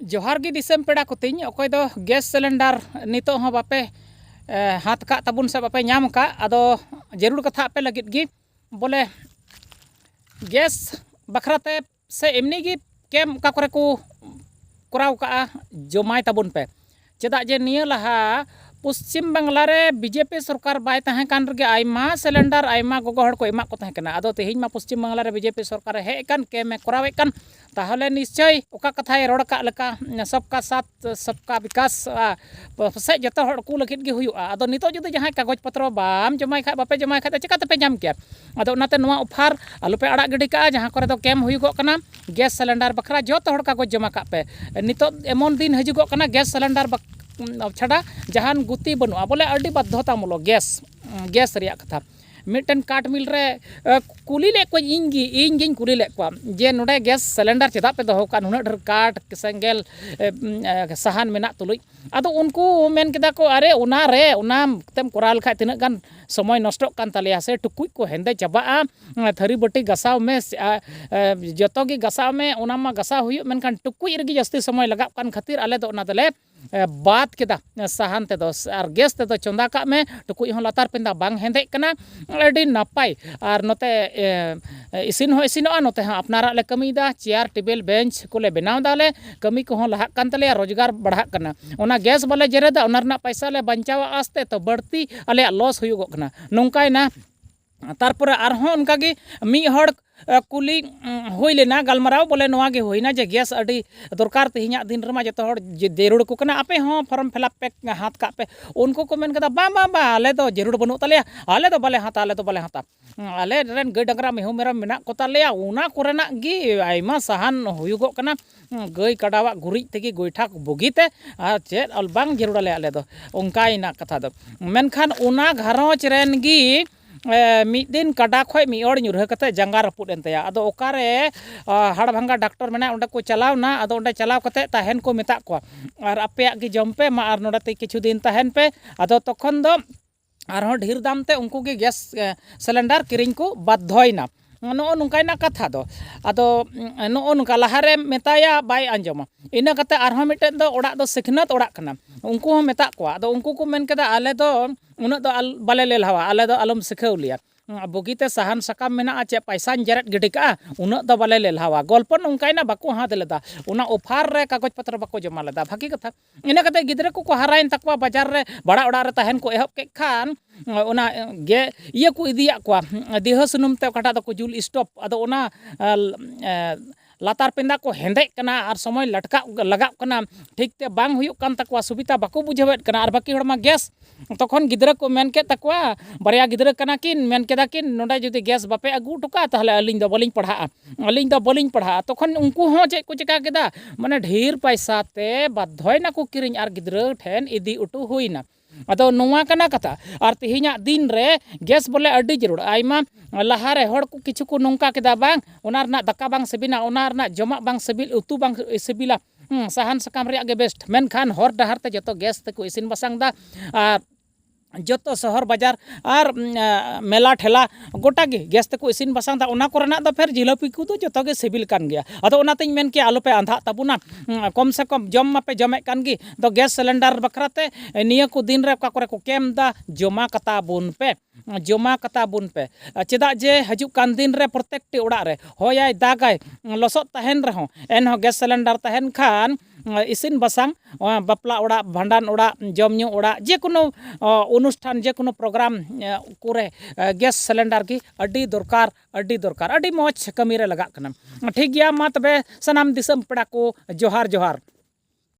ᱡᱚᱦᱟᱨ ᱜᱮ ᱫᱤᱥᱚᱢ ᱯᱮᱲᱟ ᱠᱚᱛᱤᱧ ᱚᱠᱚᱭ ᱫᱚ ᱜᱮᱥ ᱥᱤᱞᱤᱱᱰᱟᱨ ᱱᱤᱛᱚᱜ ᱦᱚᱸ ᱵᱟᱯᱮ ᱦᱟᱛ ᱠᱟᱜ ᱛᱟᱵᱚᱱ ᱥᱮ ᱵᱟᱯᱮ ᱧᱟᱢ ᱠᱟᱜ ᱟᱫᱚ ᱡᱟᱹᱨᱩᱲ ᱠᱟᱛᱷᱟ ᱟᱯᱮ ᱞᱟᱹᱜᱤᱫ ᱜᱮ ᱵᱚᱞᱮ ᱜᱮᱥ ᱵᱟᱠᱷᱨᱟ ᱛᱮ ᱥᱮ ᱮᱢᱱᱤ ᱜᱮ ᱠᱮᱢᱯ ᱚᱠᱟ ᱠᱚᱨᱮ ᱠᱚ ᱠᱚᱨᱟᱣ ᱠᱟᱜᱼᱟ ᱡᱚᱢᱟᱭ ᱛᱟᱵᱚᱱ ᱯᱮ ᱪᱮᱫᱟᱜ ᱡᱮ ᱱᱤᱭᱟᱹ ᱞᱟᱦᱟ ᱯᱚᱥᱪᱤᱢ ᱵᱟᱝᱞᱟ ᱨᱮ ᱵᱤᱡᱮᱯᱤ ᱥᱚᱨᱠᱟᱨ ᱵᱟᱭ ᱛᱟᱦᱮᱸ ᱠᱟᱱ ᱨᱮᱜᱮ ᱟᱭᱢᱟ ᱥᱤᱞᱤᱱᱰᱟᱨ ᱟᱭᱢᱟ ᱜᱚᱜᱚ ᱦᱚᱲ ᱠᱚ ᱮᱢᱟᱜ ᱠᱚ ᱛᱟᱦᱮᱸ ᱠᱟᱱᱟ ᱟᱫᱚ ᱛᱮᱦᱮᱧ ᱢᱟ ᱯᱚᱥᱪᱤᱢ ᱵᱟᱝᱞᱟ ᱨᱮ ᱵᱤᱡᱮᱯᱤ ᱥᱚᱨᱠᱟᱨ ᱮ ᱦᱮᱡ ᱟᱠᱟᱱ ᱠᱮᱢ ᱮ ᱠᱚᱨᱟᱣᱮᱫ ᱠᱟᱱ ᱛᱟᱦᱚᱞᱮ ᱱᱤᱥᱪᱚᱭ ᱚᱠᱟ ᱠᱟᱛᱷᱟᱭ ᱨᱚᱲ ᱟᱠᱟᱫ ᱞᱮᱠᱟ ᱥᱚᱵᱠᱟ ᱥᱟᱛ ᱥᱚᱵᱠᱟ ᱵᱤᱠᱟᱥ ᱯᱟᱥᱮᱡ ᱡᱚᱛᱚ ᱦᱚᱲ ᱠᱚ ᱞᱟᱹᱜᱤᱫ ᱜᱮ ᱦᱩᱭᱩᱜᱼᱟ ᱟᱫᱚ ᱱᱤᱛᱚᱜ ᱡᱩᱫᱤ ᱡᱟᱦᱟᱸᱭ ᱠᱟᱜᱚᱡᱽ ᱯᱚᱛᱨᱚ ᱵᱟᱢ ᱡᱚᱢᱟᱭ ᱠᱷᱟᱱ ᱵᱟᱯᱮ ᱡᱚᱢᱟᱭ ᱠᱷᱟᱱ ᱫᱚ ᱪᱤᱠᱟᱹ ᱛᱮᱯᱮ ᱧᱟᱢ ᱠᱮᱭᱟ ᱟᱫᱚ ᱚᱱᱟᱛᱮ ᱱᱚᱣᱟ ᱚᱯᱷᱟᱨ ᱟᱞᱚᱯᱮ ᱟᱲᱟᱜ ᱜᱤᱰᱤ ᱠᱟᱜᱼᱟ ᱡᱟᱦᱟᱸ ᱠᱚᱨᱮ ᱫᱚ ᱠᱮᱢ ᱦᱩᱭᱩᱜᱚᱜ ᱠᱟᱱᱟ ᱜᱮᱥ ᱥᱤᱞᱤᱱᱰᱟᱨ ᱵᱟᱠᱷᱨᱟ ᱡᱚᱛᱚ ᱦᱚᱲ ᱠᱟᱜᱚᱡᱽ ᱡᱚᱢᱟ ᱠᱟᱜ ᱯᱮ ᱱᱤᱛᱳᱜ ᱮᱢᱚᱱ ᱫᱤᱱ ᱦᱤᱡᱩᱜᱚᱜ ᱠᱟᱱᱟ ᱜᱮᱥ ᱥᱤᱞᱤᱱᱰᱟᱨ ᱪᱷᱟᱰᱟ ᱡᱟᱦᱟᱱ ᱜᱩᱛᱤ ᱵᱟᱹᱱᱩᱜᱼᱟ ᱵᱚᱞᱮ ᱟᱹᱰᱤ ᱵᱟᱫᱽᱫᱷᱚᱛᱟ ᱢᱩᱞᱚᱠ ᱜᱮᱥ ᱜᱮᱥ ᱨᱮᱭᱟᱜ ᱠᱟᱛᱷᱟ ᱢᱤᱫᱴᱮᱱ ᱠᱟᱴ ᱢᱤᱞ ᱨᱮ ᱠᱩᱞᱤ ᱞᱮᱫ ᱠᱚᱣᱟᱹᱧ ᱤᱧ ᱜᱮ ᱤᱧ ᱜᱤᱧ ᱠᱩᱞᱤ ᱞᱮᱫ ᱠᱚᱣᱟ ᱡᱮ ᱱᱚᱰᱮ ᱜᱮᱥ ᱥᱤᱞᱤᱱᱰᱟᱨ ᱪᱮᱫᱟᱜ ᱯᱮ ᱫᱚᱦᱚ ᱠᱟᱜᱼᱟ ᱱᱩᱱᱟᱹᱜ ᱰᱷᱮᱨ ᱠᱟᱴ ᱥᱮᱸᱜᱮᱞ ᱥᱟᱦᱟᱱ ᱢᱮᱱᱟᱜ ᱛᱩᱞᱩᱡ ᱟᱫᱚ ᱩᱱᱠᱩ ᱢᱮᱱ ᱠᱮᱫᱟ ᱠᱚ ᱟᱨᱮ ᱚᱱᱟ ᱨᱮ ᱚᱱᱟ ᱛᱮᱢ ᱠᱚᱨᱟᱣ ᱞᱮᱠᱷᱟᱡ ᱛᱤᱱᱟᱹᱜ ᱜᱟᱱ ᱥᱚᱢᱚᱭ ᱱᱚᱥᱴᱚᱜ ᱠᱟᱱ ᱛᱟᱞᱮᱭᱟ ᱥᱮ ᱴᱩᱠᱩᱡ ᱠᱚ ᱦᱮᱸᱫᱮ ᱪᱟᱵᱟᱜᱼᱟ ᱛᱷᱟᱹᱨᱤ ᱵᱟᱹᱴᱤ ᱜᱟᱥᱟᱣ ᱢᱮ ᱡᱚᱛᱚ ᱜᱮ ᱜᱟᱥᱟᱣ ᱢᱮ ᱚᱱᱟ ᱢᱟ ᱜᱟᱥᱟᱣ ᱦᱩᱭᱩᱜ ᱢᱮᱱᱠᱷᱟᱱ ᱴᱩᱠᱩᱡ ᱨᱮᱜᱮ ᱡᱟᱹᱥᱛᱤ ᱥᱚᱢᱚᱭ ᱞᱟᱜᱟᱜ ᱠᱟᱱ ᱠᱷᱟᱹᱛᱤᱨ ᱟᱞᱮ ᱫᱚ ᱚᱱᱟ ᱫᱚᱞᱮ ᱵᱟᱫ ᱠᱮᱫᱟ ᱥᱟᱦᱟᱱ ᱛᱮᱫᱚ ᱟᱨ ᱜᱮᱥ ᱛᱮᱫᱚ ᱪᱚᱸᱫᱟ ᱠᱟᱜ ᱢᱮ ᱴᱩᱠᱩᱡ ᱦᱚᱸ ᱞᱟᱛᱟᱨ ᱯᱮᱸᱫᱟ ᱵᱟᱝ ᱦᱮᱸᱫᱮᱜ ᱠᱟᱱᱟ ᱟᱹᱰᱤ ᱱᱟᱯᱟᱭ ᱟᱨ ᱱᱚᱛᱮ ᱤᱥᱤᱱ ᱦᱚᱸ ᱤᱥᱤᱱᱚᱜᱼᱟ ᱱᱚᱛᱮ ᱦᱚᱸ ᱟᱯᱱᱟᱨᱟᱜ ᱞᱮ ᱠᱟᱹᱢᱤᱭᱮᱫᱟ ᱪᱮᱭᱟᱨ ᱴᱮᱵᱤᱞ ᱵᱮᱧᱪ ᱠᱚᱞᱮ ᱵᱮᱱᱟᱣ ᱫᱟᱞᱮ ᱠᱟᱹᱢᱤ ᱠᱚᱦᱚᱸ ᱞᱟᱦᱟᱜ ᱠᱟᱱ ᱛᱟᱞᱮᱭᱟ ᱨᱚᱡᱽᱜᱟᱨ ᱵᱟᱲᱦᱟᱜ ᱠᱟᱱᱟ ᱚᱱᱟ ᱜᱮᱥ ᱵᱟᱞᱮ ᱡᱮᱨᱮᱫᱟ ᱚᱱᱟ ᱨᱮᱱᱟᱜ ᱯᱚᱭᱥᱟ ᱞᱮ ᱵᱟᱧᱪᱟᱣᱟ ᱟᱥᱛᱮ ᱛᱚ ᱵᱟᱹᱲᱛᱤ ᱟᱞᱮᱭᱟᱜ ᱞᱚᱥ ᱦᱩᱭᱩᱜᱚᱜ ᱠᱟᱱᱟ ᱱᱚᱝᱠᱟᱭᱮᱱᱟ ᱛᱟᱨᱯᱚᱨᱮ ᱟᱨᱦᱚᱸ ᱚᱱᱠᱟᱜᱮ ᱢᱤᱫ ᱦᱚᱲ ᱠᱩᱞᱤ ᱦᱩᱭ ᱞᱮᱱᱟ ᱜᱟᱞᱢᱟᱨᱟᱣ ᱵᱚᱞᱮ ᱱᱚᱣᱟ ᱜᱮ ᱦᱩᱭᱱᱟ ᱡᱮ ᱜᱮᱥ ᱟᱹᱰᱤ ᱫᱚᱨᱠᱟᱨ ᱛᱮᱦᱮᱧᱟᱜ ᱫᱤᱱ ᱨᱮᱢᱟ ᱡᱚᱛᱚ ᱦᱚᱲ ᱡᱟᱹᱨᱩᱲ ᱟᱠᱚ ᱠᱟᱱᱟ ᱟᱯᱮ ᱦᱚᱸ ᱯᱷᱚᱨᱚᱢ ᱯᱷᱤᱞᱟᱯ ᱯᱮ ᱦᱟᱛ ᱠᱟᱜ ᱯᱮ ᱩᱱᱠᱩ ᱠᱚ ᱢᱮᱱ ᱠᱮᱫᱟ ᱵᱟᱝ ᱵᱟᱝ ᱵᱟᱝ ᱟᱞᱮ ᱫᱚ ᱡᱟᱹᱨᱩᱲ ᱵᱟᱹᱱᱩᱜ ᱛᱟᱞᱮᱭᱟ ᱟᱞᱮ ᱫᱚ ᱵᱟᱞᱮ ᱦᱟᱛᱟ ᱟᱞᱮ ᱫᱚ ᱵᱟᱞᱮ ᱦᱟᱛᱟ ᱟᱞᱮ ᱨᱮᱱ ᱜᱟᱹᱭ ᱰᱟᱝᱨᱟ ᱢᱤᱦᱩ ᱢᱮᱨᱚᱢ ᱢᱮᱱᱟᱜ ᱠᱚᱛᱟ ᱞᱮᱭᱟ ᱚᱱᱟ ᱠᱚᱨᱮᱱᱟᱜ ᱜᱮ ᱟᱭᱢᱟ ᱥᱟᱦᱟᱱ ᱦᱩᱭᱩᱜᱚᱜ ᱠᱟᱱᱟ ᱜᱟᱹᱭ ᱠᱟᱰᱟᱣᱟᱜ ᱜᱩᱨᱤᱡ ᱛᱮᱜᱮ ᱜᱚᱭᱴᱷᱟ ᱵᱩᱜᱤᱛᱮ ᱟᱨ ᱪᱮᱫ ᱵᱟᱝ ᱡᱟᱹᱨᱩᱲ ᱟᱞᱮᱭᱟ ᱟᱞᱮ ᱫᱚ ᱚᱱᱠᱟᱭᱮᱱᱟ ᱠᱟᱛᱷᱟ ᱫᱚ ᱢᱮᱱᱠᱷᱟᱱ ᱚᱱᱟ ᱜᱷᱟᱨᱚᱸᱡᱽ ᱨᱮᱱ ᱜᱮ ᱢᱤᱫ ᱫᱤᱱ ᱠᱟᱰᱟ ᱠᱷᱚᱡ ᱢᱤᱫ ᱦᱚᱲ ᱧᱩᱨᱦᱟᱹ ᱠᱟᱛᱮ ᱡᱟᱸᱜᱟ ᱨᱟᱹᱯᱩᱫ ᱮᱱ ᱛᱟᱭᱟ ᱟᱫᱚ ᱚᱠᱟ ᱨᱮ ᱦᱟᱲ ᱵᱷᱟᱝᱜᱟ ᱰᱟᱠᱴᱚᱨ ᱢᱮᱱᱟᱭᱟ ᱚᱸᱰᱮ ᱠᱚ ᱪᱟᱞᱟᱣ ᱮᱱᱟ ᱟᱫᱚ ᱚᱸᱰᱮ ᱪᱟᱞᱟᱣ ᱠᱟᱛᱮ ᱛᱟᱦᱮᱱ ᱠᱚ ᱢᱮᱛᱟᱜ ᱠᱚᱣᱟ ᱟᱨ ᱟᱯᱮᱭᱟᱜ ᱜᱮ ᱡᱚᱢ ᱯᱮ ᱢᱟ ᱟᱨ ᱱᱚᱸᱰᱮ ᱛᱮ ᱠᱤᱪᱷᱩ ᱫᱤᱱ ᱛᱟᱦᱮᱱ ᱯᱮ ᱟᱫᱚ ᱛᱚᱠᱷᱚᱱ ᱫᱚ ᱟᱨᱦᱚᱸ ᱰᱷᱮᱨ ᱫᱟᱢ ᱛᱮ ᱩᱱᱠᱩ ᱜᱮ ᱜᱮᱥ ᱥᱤᱞᱤᱱᱰᱟᱨ ᱠᱤᱨᱤᱧ ᱠᱚ ᱵᱟᱫᱽᱫᱷᱚᱭᱮᱱᱟ ᱱᱚᱜᱼᱚ ᱱᱚᱝᱠᱟᱭᱮᱱᱟ ᱠᱟᱛᱷᱟ ᱫᱚ ᱟᱫᱚ ᱱᱚᱜᱼᱚ ᱱᱚᱝᱠᱟ ᱞᱟᱦᱟᱨᱮ ᱢᱮᱛᱟᱭᱟ ᱵᱟᱭ ᱟᱸᱡᱚᱢᱟ ᱤᱱᱟᱹ ᱠᱟᱛᱮ ᱟᱨᱦᱚᱸ ᱢᱤᱫᱴᱮᱱ ᱫᱚ ᱚᱲᱟᱜ ᱫᱚ ᱥᱤᱠᱷᱱᱟᱹᱛ ᱚᱲᱟᱜ ᱠᱟᱱᱟ ᱩᱱᱠᱩ ᱦᱚᱸ ᱢᱮᱛᱟᱜ ᱠᱚᱣᱟ ᱟᱫᱚ ᱩᱱᱠᱩ ᱠᱚ ᱢᱮᱱ ᱠᱮᱫᱟ ᱟᱞᱮ ᱫᱚ ᱩᱱᱟᱹᱜ ᱫᱚ ᱵᱟᱞᱮ ᱞᱮᱞᱦᱟᱣᱟ ᱟᱞᱮ ᱫᱚ ᱟᱞᱚᱢ ᱥᱤᱠᱷᱟᱹᱣ ᱞᱮᱭᱟ ᱵᱩᱜᱤᱛᱮ ᱥᱟᱦᱟᱱ ᱥᱟᱠᱟᱢ ᱢᱮᱱᱟᱜᱼᱟ ᱪᱮᱫ ᱯᱚᱭᱥᱟᱧ ᱡᱮᱨᱮᱫ ᱜᱤᱰᱤ ᱠᱟᱜᱼᱟ ᱩᱱᱟᱹᱜ ᱫᱚ ᱵᱟᱞᱮ ᱞᱮᱞᱦᱟᱣᱟ ᱜᱚᱞᱯᱚ ᱱᱚᱝᱠᱟᱭᱮᱱᱟ ᱵᱟᱠᱚ ᱦᱟᱛᱟᱣ ᱞᱮᱫᱟ ᱚᱱᱟ ᱚᱯᱷᱟᱨ ᱨᱮ ᱠᱟᱜᱚᱡᱽ ᱯᱚᱛᱨᱚ ᱵᱟᱠᱚ ᱡᱚᱢᱟ ᱞᱮᱫᱟ ᱵᱷᱟᱹᱜᱤ ᱠᱟᱛᱷᱟ ᱤᱱᱟᱹ ᱠᱟᱛᱮ ᱜᱤᱫᱽᱨᱟᱹ ᱠᱚᱠᱚ ᱦᱟᱨᱟᱭᱮᱱ ᱛᱟᱠᱚᱣᱟ ᱵᱟᱡᱟᱨ ᱨᱮ ᱵᱷᱟᱲᱟ ᱚᱲᱟᱜ ᱨᱮ ᱛᱟᱦᱮᱱ ᱠᱚ ᱮᱦᱚᱵ ᱠᱮᱫ ᱠᱷᱟᱱ ᱚᱱᱟ ᱜᱮ ᱤᱭᱟᱹ ᱠᱚ ᱤᱫᱤᱭᱟᱜ ᱠᱚᱣᱟ ᱫᱤᱣᱦᱟᱹ ᱥᱩᱱᱩᱢ ᱛᱮ ᱚᱠᱟᱴᱟᱜ ᱫᱚᱠᱚ ᱡᱩᱞ ᱥᱴᱳᱵᱷ ᱟᱫᱚ ᱚᱱᱟ ᱞᱟᱛᱟᱨ ᱯᱮᱸᱫᱟ ᱠᱚ ᱦᱮᱸᱫᱮᱜ ᱠᱟᱱᱟ ᱟᱨ ᱥᱚᱢᱚᱭ ᱞᱟᱴᱠᱟᱜ ᱞᱟᱜᱟᱜ ᱠᱟᱱᱟ ᱴᱷᱤᱠ ᱛᱮ ᱵᱟᱝ ᱦᱩᱭᱩᱜ ᱠᱟᱱ ᱛᱟᱠᱚᱣᱟ ᱥᱩᱵᱤᱛᱟ ᱵᱟᱠᱚ ᱵᱩᱡᱷᱟᱹᱣᱮᱫ ᱠᱟᱱᱟ ᱟᱨ ᱵᱟᱹᱠᱤ ᱦᱚᱲᱢᱟ ᱜᱮᱥ ᱛᱚᱠᱷᱚᱱ ᱜᱤᱫᱽᱨᱟᱹ ᱠᱚ ᱢᱮᱱ ᱠᱮᱫ ᱛᱟᱠᱚᱣᱟ ᱵᱟᱨᱭᱟ ᱜᱤᱫᱽᱨᱟᱹ ᱠᱟᱱᱟ ᱠᱤᱱ ᱢᱮᱱ ᱠᱮᱫᱟ ᱠᱤᱱ ᱱᱚᱰᱮ ᱡᱩᱫᱤ ᱜᱮᱥ ᱵᱟᱯᱮ ᱟᱹᱜᱩ ᱦᱚᱴᱚ ᱠᱟᱜᱼᱟ ᱛᱟᱦᱚᱞᱮ ᱟᱹᱞᱤᱧ ᱫᱚ ᱵᱟᱹᱞᱤᱧ ᱯᱟᱲᱦᱟᱜᱼᱟ ᱟᱹᱞᱤᱧ ᱫᱚ ᱵᱟᱹᱞᱤᱧ ᱯᱟᱲᱦᱟᱜᱼᱟ ᱛᱚᱠᱷᱚᱱ ᱩᱱᱠᱩ ᱦᱚᱸ ᱪᱮᱫ ᱠᱚ ᱪᱤᱠᱟᱹ ᱠᱮᱫᱟ ᱢᱟᱱᱮ ᱰᱷᱮᱨ ᱯᱚᱭᱥᱟ ᱛᱮ ᱵᱟᱫᱽᱫᱷᱚᱭ ᱱᱟᱠᱚ ᱠᱤᱨᱤᱧ ᱟᱨ ᱜᱤᱫᱽᱨᱟᱹ ᱴᱷᱮᱱ ᱤᱫᱤ ᱦᱚᱴᱚ ᱦᱩᱭᱱᱟ ᱟᱫᱚ ᱱᱚᱣᱟ ᱠᱟᱱᱟ ᱠᱟᱛᱷᱟ ᱟᱨ ᱛᱮᱦᱮᱧᱟᱜ ᱫᱤᱱ ᱨᱮ ᱜᱮᱥ ᱵᱚᱞᱮ ᱟᱹᱰᱤ ᱡᱟᱹᱨᱩᱲ ᱟᱭᱢᱟ ᱞᱟᱦᱟ ᱨᱮ ᱦᱚᱲ ᱠᱚ ᱠᱤᱪᱷᱩ ᱠᱚ ᱱᱚᱝᱠᱟ ᱠᱮᱫᱟ ᱵᱟᱝ ᱚᱱᱟ ᱨᱮᱱᱟᱜ ᱫᱟᱠᱟ ᱵᱟᱝ ᱥᱤᱵᱤᱞᱟ ᱚᱱᱟ ᱨᱮᱱᱟᱜ ᱡᱚᱢᱟᱜ ᱵᱟᱝ ᱥᱤᱵᱤᱞ ᱩᱛᱩ ᱵᱟᱝ ᱥᱤᱵᱤᱞᱟ ᱥᱟᱦᱟᱱ ᱥᱟᱠᱟᱢ ᱨᱮᱭᱟᱜ ᱜᱮ ᱵᱮᱥᱴ ᱢᱮᱱᱠᱷᱟᱱ ᱦᱚᱨ ᱰᱟᱦᱟᱨ ᱛᱮ ᱡᱚᱛᱚ ᱜᱮᱥ ᱛᱮᱠᱚ ᱤᱥᱤᱱ ᱵᱟᱥᱟᱝ ᱮᱫᱟ ᱟᱨ ᱡᱚᱛᱚ ᱥᱚᱦᱚᱨ ᱵᱟᱡᱟᱨ ᱟᱨ ᱢᱮᱞᱟ ᱴᱷᱮᱞᱟ ᱜᱚᱴᱟ ᱜᱮ ᱜᱮᱥ ᱛᱮᱠᱚ ᱤᱥᱤᱱ ᱵᱟᱥᱟᱝ ᱮᱫᱟ ᱚᱱᱟ ᱠᱚᱨᱮᱱᱟᱜ ᱫᱚ ᱯᱷᱮᱨ ᱡᱷᱤᱞᱟᱹᱯᱤ ᱠᱚᱫᱚ ᱡᱚᱛᱚ ᱜᱮ ᱥᱤᱵᱤᱞ ᱠᱟᱱ ᱜᱮᱭᱟ ᱟᱫᱚ ᱚᱱᱟ ᱛᱤᱧ ᱢᱮᱱ ᱠᱮᱭᱟ ᱟᱞᱚᱯᱮ ᱟᱸᱫᱷᱟᱜ ᱛᱟᱵᱚᱱᱟ ᱠᱚᱢ ᱥᱮ ᱠᱚᱢ ᱡᱚᱢ ᱢᱟᱯᱮ ᱡᱚᱢᱮᱫ ᱠᱟᱱ ᱜᱮ ᱟᱫᱚ ᱜᱮᱥ ᱥᱤᱞᱤᱱᱰᱟᱨ ᱵᱟᱠᱷᱨᱟ ᱛᱮ ᱱᱤᱭᱟᱹ ᱠᱚ ᱫᱤᱱ ᱨᱮ ᱚᱠᱟ ᱠᱚᱨᱮ ᱠᱚ ᱠᱮᱢᱯ ᱮᱫᱟ ᱡᱚᱢᱟ ᱠᱟᱛᱟ ᱵᱚᱱ ᱯᱮ ᱡᱚᱢᱟ ᱠᱟᱛᱟ ᱵᱚᱱ ᱯᱮ ᱪᱮᱫᱟᱜ ᱡᱮ ᱦᱤᱡᱩᱜ ᱠᱟᱱ ᱫᱤᱱ ᱨᱮ ᱯᱨᱚᱛᱮᱠᱴᱤ ᱚᱲᱟᱜ ᱨᱮ ᱦᱚᱭᱟᱭ ᱫᱟᱜᱟᱭ ᱞᱚᱥᱚᱫ ᱛᱟᱦᱮᱱ ᱨᱮᱦᱚᱸ ᱮᱱᱦᱚᱸ ᱜᱮᱥ ᱥᱤᱞᱤᱱᱰᱟᱨ ᱛᱟᱦᱮᱱ ᱠᱷᱟᱱ ᱤᱥᱤᱱ ᱵᱟᱥᱟᱝ ᱵᱟᱯᱞᱟ ᱚᱲᱟᱜ ᱵᱷᱟᱸᱰᱟᱱ ᱚᱲᱟᱜ ᱡᱚᱢ ᱧᱩ ᱚᱲᱟᱜ ᱡᱮᱠᱳᱱᱳ ᱚᱱᱩᱥᱴᱷᱟᱱ ᱡᱮᱠᱳᱱᱳ ᱯᱨᱳᱜᱨᱟᱢ ᱠᱚᱨᱮ ᱜᱮᱥ ᱥᱤᱞᱤᱱᱰᱟᱨ ᱜᱮ ᱟᱹᱰᱤ ᱫᱚᱨᱠᱟᱨ ᱟᱹᱰᱤ ᱫᱚᱨᱠᱟᱨ ᱟᱹᱰᱤ ᱢᱚᱡᱽ ᱠᱟᱹᱢᱤᱨᱮ ᱞᱟᱜᱟᱜ ᱠᱟᱱᱟ ᱴᱷᱤᱠ ᱜᱮᱭᱟ ᱢᱟ ᱛᱚᱵᱮ ᱥᱟᱱᱟᱢ ᱫᱤᱥᱚᱢ ᱯᱮᱲᱟ ᱠᱚ ᱡᱚᱦᱟᱨ ᱡᱚᱦᱟᱨ